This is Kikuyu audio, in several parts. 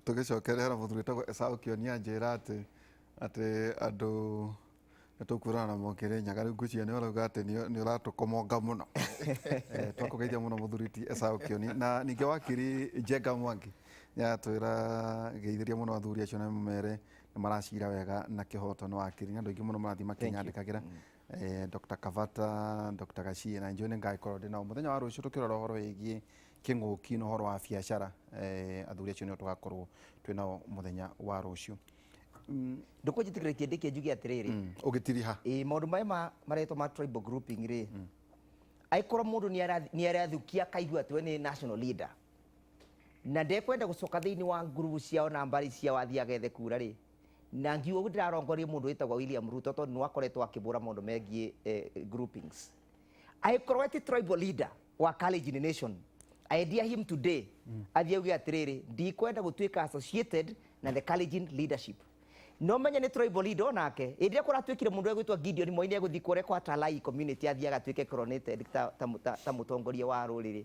tũgĩcokerera mũthuri tagwo esaũ kĩonia njĩra atĩ atĩ andũ nĩ tũkuona na mokĩrĩ nyaga rĩu ngwĩciria nĩ ũrauga atĩ nĩ ũratũkomonga mũno eh, twakũgeithia mũno mũthuri ti esaũ kĩoni na ningĩ wakiri njenga mwangi yatwĩra geithĩria mũno athuri acio na mere nĩ maracira wega na kĩhoto nĩ wakiri nĩ andũ aingĩ mũno marathiĩ makĩnyandĩkagĩra mm. eh, Dr. Kavata, Dr. Gashie na njũĩ nĩ ngagĩkorwo ndĩ nao mũthenya wa rũciũ tũkĩrora ũhoro wĩgiĩ kĩng'ũki na ũhoro wa biacara eh, athuri acio nĩo tũgakorwo twĩ nao mũthenya wa rũciũ Mm, ndũkũ njĩtĩkĩre kĩndĩ kĩa njuge atĩrĩrĩ mm, ũgĩtiriha ĩĩ maũndũ maya ma- maretwo ma tribal grouping rĩ angĩkorwo mũndũ nĩ arathukia akaigua atĩ we nĩ national leader na ndekwenda gũcoka thĩinĩ wa ngurubu ciao na mbarĩ ciao athiĩ agethe kura rĩ na ngiuga ũguo ndĩrarongoria mũndũ wĩtagwo William Ruto tondũ nĩ wakoretwo akĩbũra maũndũ megiĩ eh, groupings angĩkorwo we ti tribal leader wa Kalenjin nation I dare him today athiĩ auge atĩrĩrĩ ndikwenda gũtuĩka associated na the Kalenjin leadership no menye nĩ tribal leader onake hĩndĩ ĩrĩa kũratuĩkire mũndũ egwĩtwo Gideon Moi nĩ egũthiĩ kũrĩa kwa Talai community athiĩ agatuĩke coronated ta, ta, ta, ta mũtongoria wa rũrĩrĩ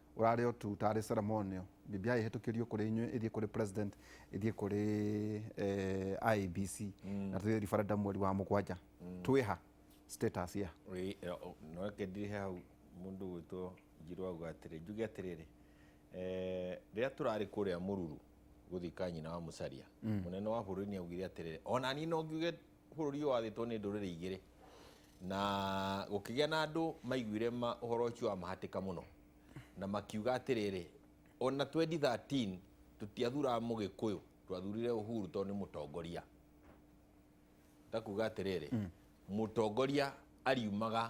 ũrarĩ o tu tarĩ ceremonial, BBI ĩhĩtũkĩrio kũrĩ inyuĩ ĩthiĩ kũrĩ president ĩthiĩ kũrĩ eh, IEBC na tũthiĩ referendum mweri wa mũgwanja twĩ ha status ya Ĩ, ĩ, o, no reke ndire hau mũndũ gwĩtwo njirũ auga atĩrĩ njuge atĩrĩrĩ eh, rĩrĩa tũrarĩ kũrĩa mũruru gũthika nyina wa mũcaria mũnene wa bũrũri nĩ augire atĩrĩrĩ ona niĩ no ngiuge Bũrũri ũyũ wathĩtwo nĩ ndũrĩrĩ igĩrĩ na gũkĩgĩa na andũ maiguire ũhoro ũcio wa mahatĩka mũno na makiuga atĩrĩrĩ, ona 2013 tũtiathuraga mũgĩkũyũ, twathurire Uhuru tondũ nĩ mũtongoria. Ndakuga atĩrĩrĩ, mm. mũtongoria ariumaga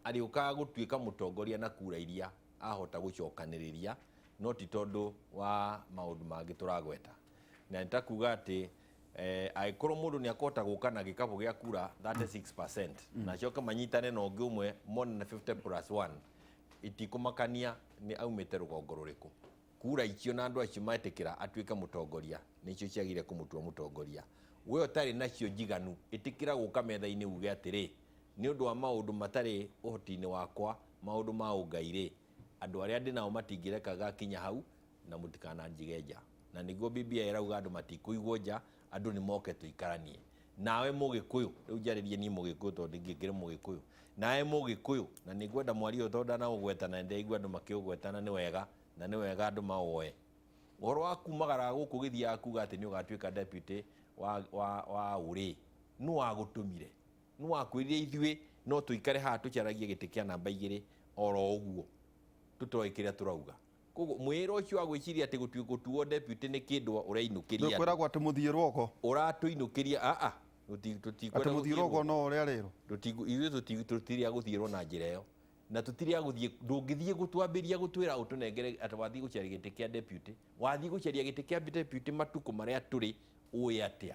arĩũkaga gũtuĩka mũtongoria na kura iria ahota gũcokanĩrĩria no ti tondũ wa maũndũ mangĩ tũragweta. Na nĩtakuga atĩ Eh, angĩkorwo mũndũ nĩ akũhota gũka na gĩkabũ gĩa kura 36% na acoke manyitane na ũngĩ ũmwe mone na 50 plus 1 itikũmakania nĩ aumĩte rũgongo rũrĩkũ kura icio na andũ acio metĩkĩra atuĩke mũtongoria nĩcio ciagĩrĩire kũmũtua mũtongoria we ũtarĩ nacio njiganu ĩtĩkĩra gũka metha-inĩ uge atĩrĩ nĩ ũndũ wa maũndũ matarĩ ũhoti-inĩ wakwa maũndũ ma ũngai rĩ Andũ arĩa ndĩ nao matingĩreka ngakinya hau, na mũtikananjige nja. Na nĩguo Bibilia ĩrauga andũ matikũigwo nja, andũ nĩ moke tũikaranie. Nawe Mũgĩkũyũ, rĩu njarĩrie niĩ Mũgĩkũyũ tondũ ningĩ ngĩrĩ Mũgĩkũyũ, nawe Mũgĩkũyũ, na nĩ ngwenda mwaria ũyũ tondũ ndanaũgweta na nĩ ndĩraigua andũ makĩũgweta na nĩ wega, na nĩ wega andũ maũoe. Ũhoro wa kuumagara gũkũ ũgĩthiaga kuuga atĩ nĩ ũgatuĩka deputy wa wa wa ũũ-rĩ, nũ wagũtũmire? Nĩwakwĩrire ithuĩ no tũikare haha tũcaragie gĩtĩ kĩa namba igĩrĩ oro ũguo tũtoĩ kĩrĩa tũrauga. Kwoguo mwĩĩra ũcio wa gwĩciria atĩ gũtuwo deputy nĩ kĩndũ ũrainũkĩria andũ. Nĩũkwĩragwo atĩ mũthiĩrwo ũgo. Ũratũinũkĩria, aa, tũtikwenda. Atĩ mũthiĩrwo ũgo no ũrĩa rĩrwo. Ithuĩ tũtirĩ a gũthiĩrwo na njĩra ĩyo. Na tũtirĩ a gũthiĩ, ndũngĩthiĩ gũtwambĩria gũtwĩra ũtũnengere atĩ wathiĩ gũcaria gĩtĩ kĩa deputy. Wathiĩ gũcaria gĩtĩ kĩa deputy matukũ marĩa tũrĩ ũĩ atĩa?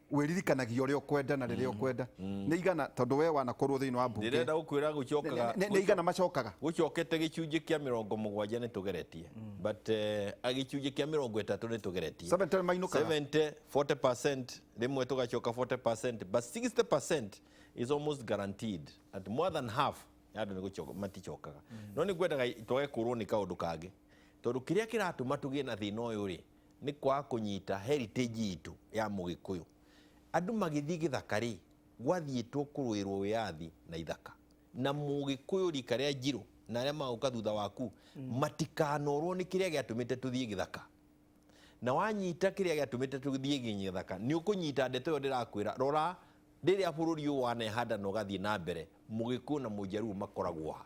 wĩririkanagia ũrĩa ũkwenda na rĩrĩa ũkwenda nĩ igana tondũ we wanakorwo thĩinĩ wa mbunge ndĩrenda gũkwĩra gũcokaga nĩ nĩ igana macokaga gũcokete gĩcunjĩ kĩa mĩrongo mũgwanja nĩ tũgeretie but eh, a gĩcunjĩ kĩa mĩrongo ĩtatũ nĩ tũgeretie 70 mainũkaga 70 40% rĩmwe tũgacoka 40% but 60% is almost guaranteed at more than half ya andũ nĩ gũcoka maticokaga no nĩ ngwendaga twage kũrwo nĩ kaũndũ kangĩ tondũ kĩrĩa kĩratũma tũgĩe na thĩna ũyũ rĩ Nĩ kwaga kũnyita heritage itũ ya mũgĩkũyũ. Andũ magĩthiĩ gĩthaka rĩ, gwathiĩtwo kũrũĩrwo wĩyathi na ithaka. Na mũgĩkũyũ rika rĩa Njirũ na arĩa magũka thutha waku matikanorwo nĩ kĩrĩa gĩatũmĩte tũthiĩ gĩthaka. Na wanyita kĩrĩa gĩatũmĩte tũthiĩ gĩthaka, nĩ ũkũnyita ndeto ĩyo ndĩrakwĩra, rora rĩrĩa bũrũri ũyũ wanehanda na ũgathiĩ na mbere, mũgĩkũyũ na mũjaruo makoragwo ha?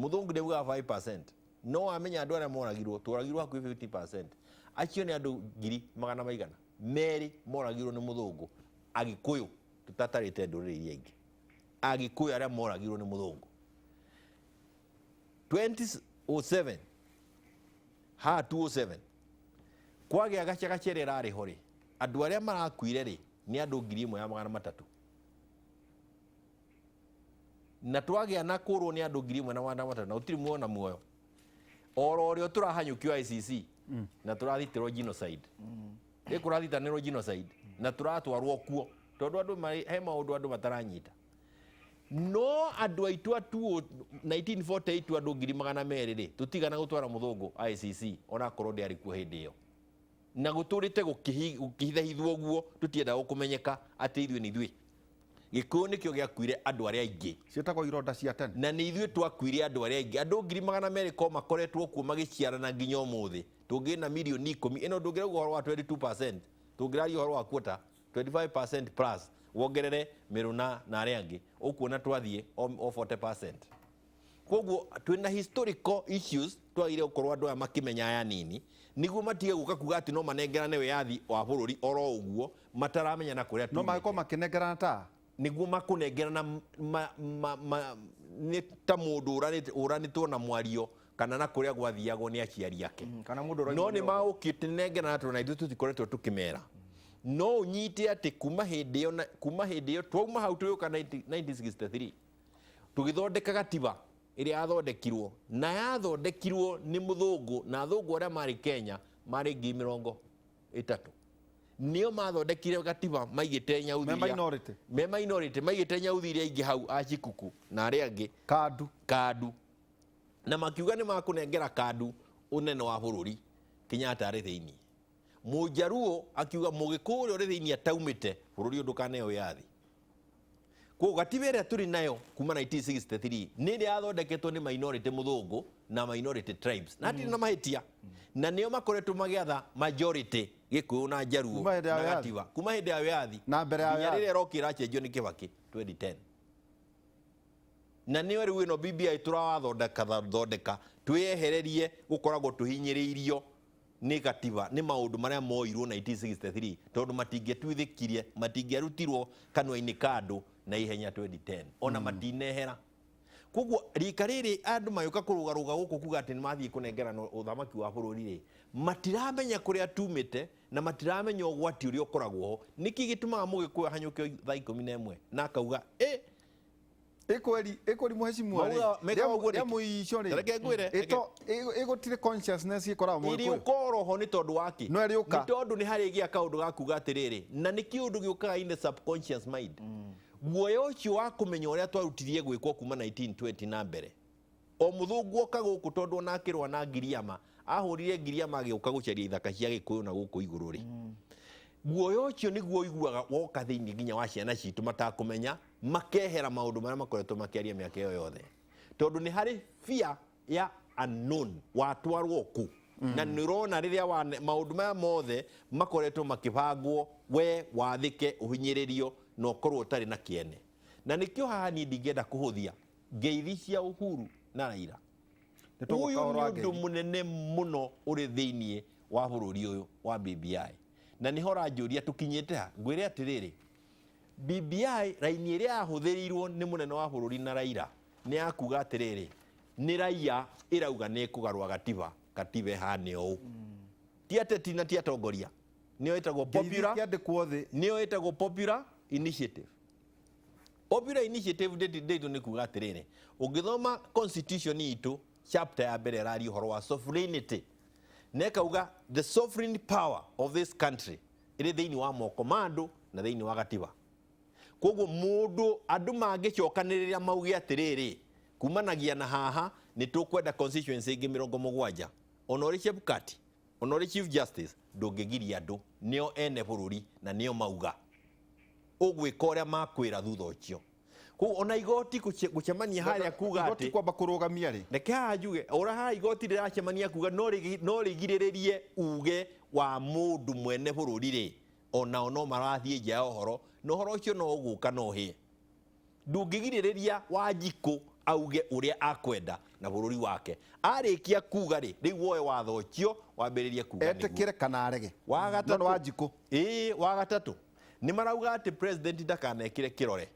Mũthũngũ ndĩbuga 5%. No amenya andũ arĩa moragirwo, tworagirwo hakuhĩ 50%. Acio nĩ andũ ngiri magana maigana. Merĩ moragirwo nĩ mũthũngũ. Agĩkũyũ, tũtatarĩte ndũrĩrĩ iria ingĩ. Agĩkũyũ arĩa moragirwo nĩ mũthũngũ. 2007, ha 207, kwagĩa gacagaca ĩrĩa ĩrarĩ ho rĩ, andũ arĩa marakuire rĩ, nĩ andũ ngiri ĩmwe ya magana matatũ. na twagĩa na kũrwo nĩ andũ ngiri ĩmwe na magana matatũ na gũtirĩ muoyo na muoyo oro ũrĩa tũrahanyũkio ICC na tũrathitĩrwo genocide ĩ kũrathitanĩrwo genocide na tũratwarwo kuo tondũ andũ marĩ- he maũndũ andũ mataranyita no andũ aitũ atuo 1948 andũ ngiri magana merĩ rĩ tũtigana gũtwara mũthũngũ ICC onakorwo ndĩarĩ kuo hĩndĩ ĩyo Na gũtũrĩte gũkĩhi- gũkĩhithahithwo ũguo tũtiendaga gũkũmenyeka atĩ ithuĩ nĩ ithuĩ. Gĩkũyũ nĩkĩo gĩakuire andũ arĩa aingĩ ciĩtagwo ironda cia tene na nĩ ithuĩ twakuire andũ arĩa aingĩ andũ ngiri magana merĩ ko makoretwo kuo magĩciarana nginya ũmũthĩ tũngĩ na mirioni ikũmi ĩno ndũngĩrauga ũhoro wa 22% tũngĩraria ũhoro wa kuota 25% plus wongerere mĩrũ na na arĩa angĩ ũkuona twathiĩ o o 40% koguo twina historical issues twagire gukorwo andu aya makimenya aya nini niguo matige guka kuga ati no manengerane wiyathi wa bururi oro uguo mataramenya na kuria no magĩkorwo makĩnengerana ta niguo makunengerana m- ma- ma- ma- nĩ ta mũndũ ũranĩte- ũranĩtwo na mwario kana na kũrĩa gwathiagwo nĩ aciari ake kana mũndũ ũraigua no nĩ nĩ magũkĩte nengerana tondũ na ithuĩ tũtikoretwo tũkĩmera no ũnyite atĩ kuma hĩndĩ ĩyo na- kuma hĩndĩ ĩyo twauma hau tũgĩũka 19- 1963 Tũgĩthondeka gatiba ĩrĩa yathondekirwo na yathondekirwo nĩ mũthũngũ na athũngũ arĩa marĩ Kenya marĩ ngiri mĩrongo ĩtatũ nĩo mathondekire gatiba maigĩte nyauthi Me iria- minority. me minority maigĩte nyauthi iria ingĩ hau acikuku na arĩa angĩ kandu kandu na makiuga nĩ makũnengera kandu ũnene wa bũrũri Kenyatta arĩ thĩinĩ mũnjaruo akiuga mũgĩkũũ ũrĩa ũrĩ thĩinĩ ataumĩte bũrũri ũyũ ndũkaneo wĩyathi Koguo gatiba ĩrĩa tũrĩ nayo kuma 1963 nĩ ĩrĩa yathondeketwo nĩ minority mũthũngũ na minority tribes na hatirĩ mm. na mahĩtia mm. na nĩo makoretwo magĩatha majority gĩkũyũ na njaruo na gatiba kuma hĩndĩ ya wĩyathi na mbere ya wĩyathi rĩrĩa ĩrokĩra achenjio nĩ kĩbakĩ 2010 na nĩyo rĩu ĩno BBI tũrawathondeka thondeka twĩyehererie gũkoragwo tũhinyĩrĩirio Nĩ gatiba, nĩ maũndũ marĩa mooirwo 1963, tondũ matingĩtuithĩkirie, matingĩarutirwo kanua-inĩ ka andũ na ihenya 2010, o na matinehera. Kwoguo rika rĩrĩ andũ magĩũka kũrũgarũga gũkũ kuga atĩ nĩ mathiĩ kũnengerana ũthamaki wa bũrũri-rĩ, matiramenya kũrĩa tumĩte na matiramenya ũgwati ũrĩa ũkoragwo ho. Nĩkĩ gĩtũmaga Mũgĩkũyũ ahanyũke o thaa ikũmi na ĩmwe na akauga, ĩ! ikweri ikweri muheshimiwa ri Mauga- meka ũguo rĩngĩ. yamu icio ri Reke ngwĩre, reke- ito igotire consciousness ikoragwo mu ikweri iriũka roho nĩ tondũ wa kĩ No ĩrĩũka. nĩ tondũ nĩ harĩ gĩa kaũndũ ga kuga atĩrĩrĩ na nĩ kĩũndũ gĩũkaga in the subconscious mind guoya ũcio wa kũmenya ũrĩa twarutirie gwĩkwo kuma 1920 na mbere O mũthũngũ oka gũkũ tondũ ona akĩrũa na Ngiriama, ahũrire Ngiriama agĩũka gũcaria ithaka cia Gĩkũyũ na gũkũ igũrũ rĩ. Guoya ũcio nĩguo ũiguaga woka thĩinĩ nginya wa ciana citũ matakũmenya, makehera maũndũ marĩa makoretwo makĩaria mĩaka ĩyo yothe. Tondũ nĩ harĩ fear ya unknown, watwarwo kũ? Na nĩ ũrona rĩrĩa wane- maũndũ maya mothe makoretwo makĩbangwo, we wathĩke, ũhinyĩrĩrio na ũkorwo ũtarĩ na kĩene. Na nĩkĩo haha niĩ ndingĩenda kũhũthia ngeithi cia Uhuru na Raila Nĩ tũgũka uyu ũhoro nĩ wa undu ngeithi. munene muno uri thiini wa bururi uyu wa BBI na niho ranjuria tukinyite ha ngwire atiriri BBI raini iria yahuthirirwo ni munene wa bururi na Raila ni ya kuga atiriri ni raia irauga ni kugarwa gatiba gatiba ihane uu ti ateti na ti atongoria niyo itagwo Ngeithi popular ciandĩkwo thĩ nĩyo ĩtagwo popular initiative Popular Initiative Dayton nĩ kuga atĩrĩrĩ, ũngĩthoma constitution itũ chapter ya mbere ĩraria ũhoro wa sovereignty na ĩkauga the sovereign power of this country ĩrĩ thĩinĩ wa moko ma andũ na thĩinĩ wa gatiba koguo mũndũ andũ mangĩcokanĩrĩra mauge atĩrĩrĩ kumanagia na haha nĩ tũkwenda constituency ĩngĩ mĩrongo mũgwanja ona ũrĩ Chebukati Onori chief justice ndũngĩgiria andũ nĩo ene bũrũri na nĩo mauga ũgwĩka ũrĩa makwĩra thutha ũcio kũu ona igoti gũcemania harĩa kuga atĩ kwamba kũrũgamia rĩ reke haha njuge ũra haha igoti rĩracemania kuga no rĩgirĩrĩrie uge wa mũndũ mwene bũrũri rĩ onao no marathiĩ nja ya ũhoro na ũhoro ũcio no ũgũka no ũhĩe ndũngĩgirĩrĩria Wanjikũ auge ũrĩa akwenda na bũrũri wake. Arĩkia kuga rĩ, rĩu woe watho ũcio wambĩrĩrie kuga nĩguo. Etĩkĩre kana arege. Wa gatatũ. John Wanjikũ. Ĩĩ, wa gatatũ. Nĩ marauga atĩ president ndakanekĩre kĩrore.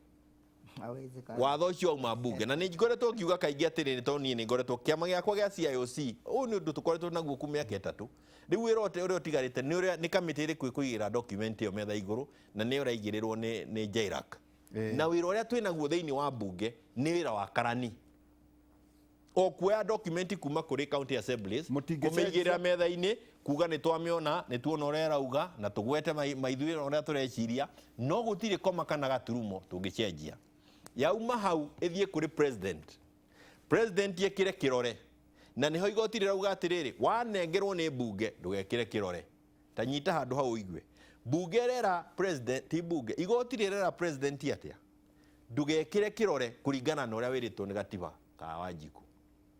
Hawezekani. Watho ũcio wauma mbunge. Na nĩ ngoretwo ngiuga kaingĩ atĩrĩ nĩ tondũ niĩ nĩ ngoretwo kĩama gĩakwa gĩa CIOC. Ũyũ nĩ ũndũ tũkoretwo naguo kuma mĩaka ĩtatũ. Rĩu wĩra ũte- ũrĩa ũtigarĩte nĩ ũrĩa nĩ kamĩtĩ ĩrĩkũ ĩkũigĩrĩra document ĩyo metha igũrũ na nĩyo ĩraigĩrĩrwo nĩ nĩ JLAC. Eh. na wira uria twina guo thiini wa bunge ni wira wa karani o kuoya document kuma kuri county assemblies Mũtingĩcenjia. kumiigirira metha-ini kuga ni twamiona ni tuona uria irauga na tugwete mai- maithuira uria tureciria no gutiri koma kana gaturumo tungicenjia yauma hau ithie kuri president president ekire kirore na niho igoti rirauga atiriri wanengerwo ni bunge ndugekire kirore Ta nyita handũ hau ũigue. Mbunge ĩrera president, ti mbunge, igoti rĩrera president atĩa? Ndũgekĩre kĩrore kũringana na ũrĩa wĩrĩtwo nĩ gatiba ka Wanjiku.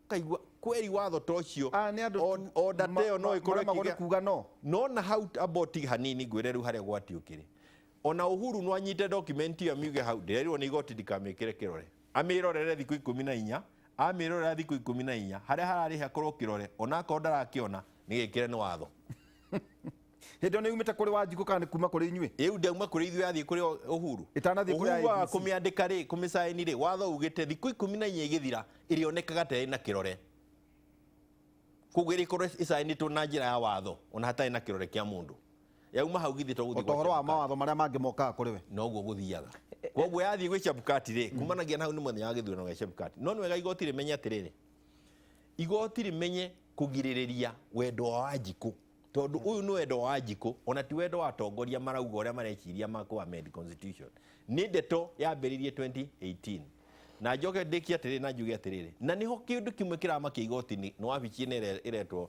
Ũkaigua kweri watho ta ũcio, Aya nĩ andũ tu o- order ta ĩyo no ma- ĩkorwo maremagwo nĩ ĩkĩgĩa- kuuga no. no na hau ambao tiga hanini ngwĩre rĩu harĩa gwati ũkĩrĩ ona uhuru no anyite document ĩyo amiuge hau ndĩrerirwo nĩ igoti ndikamĩkĩre kĩrore Amĩĩrorere thikũ ikũmi na inya, amĩĩrorera thikũ ikũmi na inya, harĩa hararĩ hakorwo kĩrore, o na akorwo ndarakĩona, nĩ gĩkĩre nĩ watho. Hĩndĩ ĩyo nĩ yumĩte kũrĩ Wanjikũ kana nĩ kuuma kũrĩ inyuĩ? Rĩu ndauma kũrĩ ithuĩ yathiĩ kũrĩ Ũhuru? Ĩtanathiĩ kũrĩ Ũhuru aga IEBC. kũmĩandĩka rĩ, kũmĩcaĩni rĩ, watho ugĩte thikũ ikũmi na inya igĩthira ĩrĩonekaga ta ĩrĩ na kĩrore. Kwoguo ĩrĩkorwo ĩcaĩnĩtwo na njĩra ya watho, o na hatarĩ na kĩrore kĩa mũndũ. yauma hau githĩ to gũthiĩ gwa ũtohoro wa Chebukati. mawatho marĩa mangĩ mokaga kũrĩ we noguo gũthiaga koguo yathiĩ gwĩ cebukati rĩ kumanagia na hau nĩ mũthenya wa gĩthurano gĩa cebukati no nĩ wega igoti rĩmenye atĩrĩrĩ igoti rĩmenye kũgirĩrĩria wendo wa wanjikũ tondũ ũyũ nĩ wendo wa wanjikũ ona ti wendo wa atongoria marauga ũrĩa mareciria ma kũ amend constitution nĩ ndeto yambĩrĩirie 2018 na njoke ndĩkie atĩrĩrĩ na njuge atĩrĩrĩ na nĩho kĩndũ kĩmwe kĩramakia igoti-inĩ nĩ wabici ĩno ĩre- ĩretwo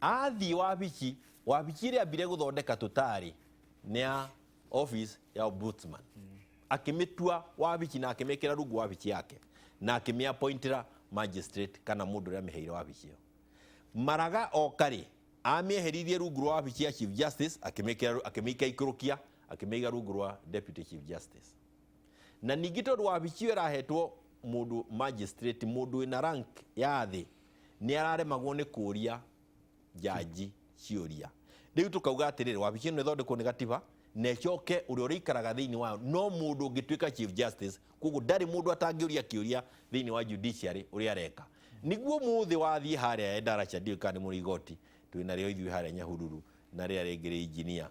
athiĩ wabici wabici ĩrĩa ambire gũthondeka tũtarĩ nĩ ya office ya ombudsman akĩmĩtua wabici na akĩmĩkĩra rungu wabici yake na akĩmĩapointĩra magistrate kana mũndũ ũrĩa amĩheire wabici ĩyo maraga okarĩ amĩeheririe rungu rwa wabici ya chief justice akĩmĩkĩra akĩmĩika ikũrũkia akĩmĩiga rungu rwa deputy chief justice na ningĩ tondũ wabici ĩyo ĩrahetwo mũndũ magistrate mũndũ wĩna rank ya thĩ nĩ araremagwo nĩ kũria njanji ciũria rĩu tũkauga atĩrĩrĩ wabici ĩno ĩthondekwo nĩ gatiba na ĩcoke ũrĩa ũrĩikaraga thĩinĩ wayo no mũndũ ũngĩtuĩka chief justice koguo ndarĩ mũndũ atangĩũria kĩũria thĩinĩ wa judiciary ũrĩa areka niguo mũthĩ wathiĩ harĩa endarasha ndiũĩ kana nĩ mũrĩ igoti twĩna rĩo ithuĩ harĩa nyahururu na rĩrĩa rĩngĩ rĩ injinia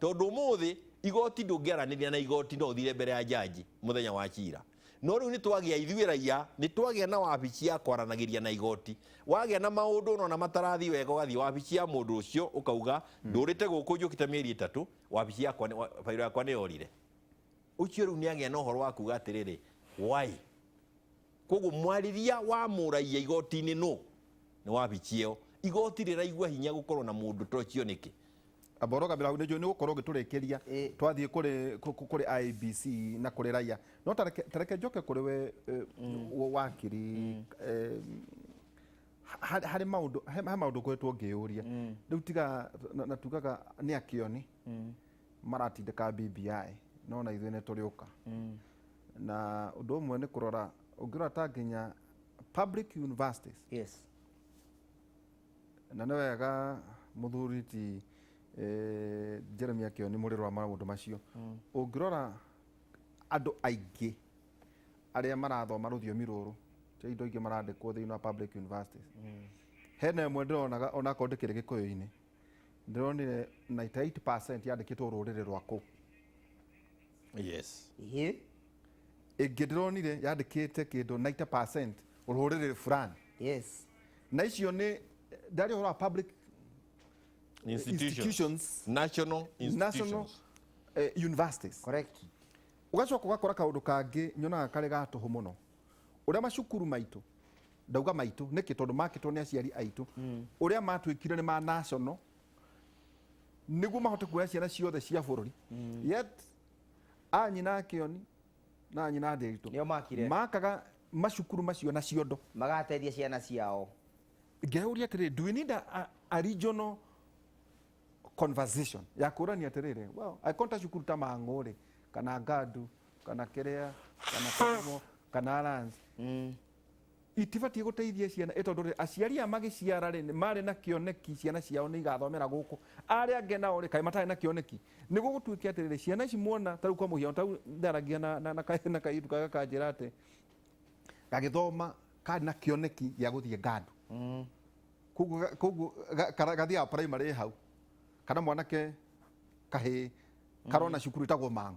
Tondũ ũmũthĩ igoti ndũngĩaranĩria na igoti, no ũthire mbere ya judge mũthenya wa cira. No rĩu nĩ twagĩa ithuĩ raiya, nĩ twagĩa na wabici ya kwaranagĩria na igoti. Wagĩa na maũndũ ũnona matarathiĩ wega ũgathiĩ wabici ya mũndũ ũcio ũkauga ndũrĩte gũkũ njũkĩte mĩeri ĩtatũ, wabici yakwa nĩ- wa- bairũ yakwa nĩ yorire. Ũcio rĩu nĩ agĩa na ũhoro wa kuga atĩrĩrĩ, why? Kwoguo mwarĩria wa mũraia igoti-inĩ nũ? Nĩ wabici ĩyo. Igoti rĩraigua hinya gũkorwo na mũndũ ta ũcio nĩkĩ? Amba ũrũgamĩre hau nĩnjũĩ nĩũgũkorwo ũgĩtũrĩkĩria twathiĩ kũrĩ kũrĩ IEBC na kũrĩ raiya. No ta reke ta reke njoke kũrĩ we wakiri harĩ harĩ maũndũ he he maũndũ ngoretwo ngĩyũria. Rĩu tiga na na tugaga nĩ akĩoni maratindĩka BBI no na ithuĩ nĩtũrĩũka. na ũndũ ũmwe nĩ kũrora ũngĩrora ta nginya public universities yes na nĩ wega mũthuri ti eh, Jeremy akĩo nĩ mũrĩro wa maũndũ macio ũngĩrora andũ aingĩ arĩa marathoma rũthiomi rũrũ ti indo ingĩ marandĩkwo thĩinĩ wa public universities hena ĩmwe ndĩronaga onakorwo ndĩkĩrĩ gĩkũyũ-inĩ ndĩronire 98% yandĩkĩtwo rũrĩrĩ rwakũ yes Ĩhĩ. ĩngĩ ndĩronire yandĩkĩte kĩndũ 90% rũrĩrĩ fulani Yes. na icio nĩ ndarĩ ũhoro wa public institutions, Institutions. national national institutions eh, universities Correct. ũgacoka ũgakora kaũndũ kangĩ nyonaga karĩ gatũhũ mũno ũrĩa macukuru maitũ ndauga maitũ nĩkĩ tondũ makĩtwo nĩ aciari aitũ mm. ũrĩa matuĩkire nĩ ma national nĩguo mahote kuoya ciana ciothe cia bũrũri mm. yet anyina akioni na anyina ndĩritũ nĩo makire makaga macukuru macio na ciondo magateithia ciana ciao ngeuria atĩrĩ do we need a, a, a regional conversation ya kũrania atĩrĩrĩ well, akonta cukuru ta mang'ũ rĩ kana ngandu kana kiria kana kĩgumo kana alliance Mm. itibatiĩ gũteithia ciana ĩ tondũ rĩ, aciari a magĩciara rĩ nĩ marĩ na kĩoneki ciana ciao nĩ igathomera gũkũ arĩa angĩ nao rĩ kaĩ matarĩ na kĩoneki nĩ gũgũtuĩke atĩ rĩrĩ ciana ici muona tarĩu kwa mũhiano tarĩu ndaragia na, na, na, ka- na kairĩtu kaga kanjĩra atĩ gagĩthoma karĩ na kĩoneki gĩa gũthiĩ ngandu Mm. koguo ga- koguo ga- kara- gathiaga primary hau kana mwanake kahĩ karona cukuru ĩtagwo mang'u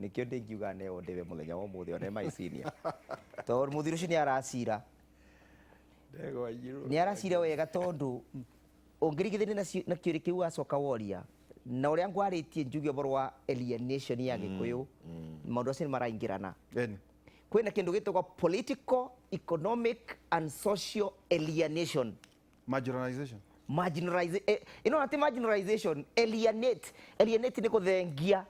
Nĩkĩo ndĩngiuga neo ndĩwe mũthenya wa ũmũthĩ ona my senior. Tondũ mũthuri ũcio nĩ aracira. Ndegwa njirũ. Nĩ aracira wega tondũ ũngĩringithania na ci- na kĩũrĩ kĩu wacoka woria na ũrĩa ngwarĩtie njuge ũhoro wa alienation ya gĩkũyũ maũndũ acio nĩ maraingĩrana Eni. kwĩna kĩndũ gĩtagwo political economic and social alienation Marginalization. marginalize eh, ino ati marginalization alienate alienate ni kuthengia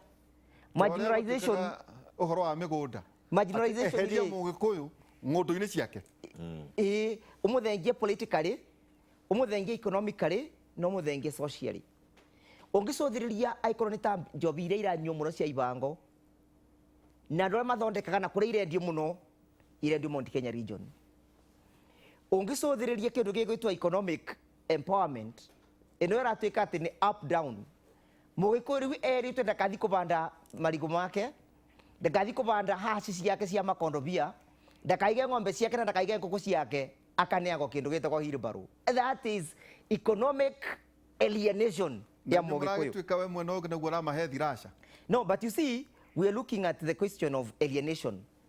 marginalization Ũrĩa gũtuĩkaga Ũhoro wa mĩgũnda. Marginalization Atĩ eheria rĩ- mũgĩkũyũ ng'ũndũ-inĩ ciake. ĩĩ ũmũthengie politically ũmũthengie economically na ũmũthengie socially ũngĩcũthĩrĩria akorwo nĩ ta njobi iria iranyuo mũno cia ibango na andũ arĩa mathondekaga na kũrĩa irendio mũno irendio Mount Kenya region ũngĩcũthĩrĩria kĩndũ gĩgwĩtwo economic empowerment ĩno ĩratuĩka atĩ nĩ up down mũgĩkũyũ rĩu erĩtwe ndakathi kũbanda marigũ make ndakathi kũbanda haci ciake cia makondobia ndakaige ng'ombe ciake na ndakaige ngũkũ ciake akaneagwo kĩndũ gĩtagwo hilbarũ that is economic alienation ya mũgĩkũyũ mũgĩkũyũ we mwena ũngĩ naguo ũramahe thirasha no but you see we are looking at the question of alienation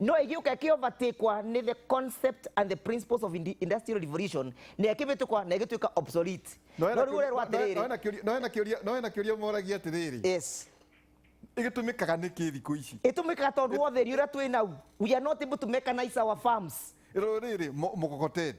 no ĩgĩũka ĩkĩovatĩkwa nĩ the concept and the principles of indi- industrial revolution na ĩkĩvĩtũkwa na ĩgĩtuĩka obsolete no rĩu ũrerwo atĩrĩrĩ no hena kĩũria moragia atĩrĩrĩ yes ĩgĩtũmĩkaga nĩkĩ thikũ ici ĩtũmĩkaga tondũ wa ũtheri ũrĩa twĩ nau we are not able to mechanize our farms rĩrĩ mũkokoteni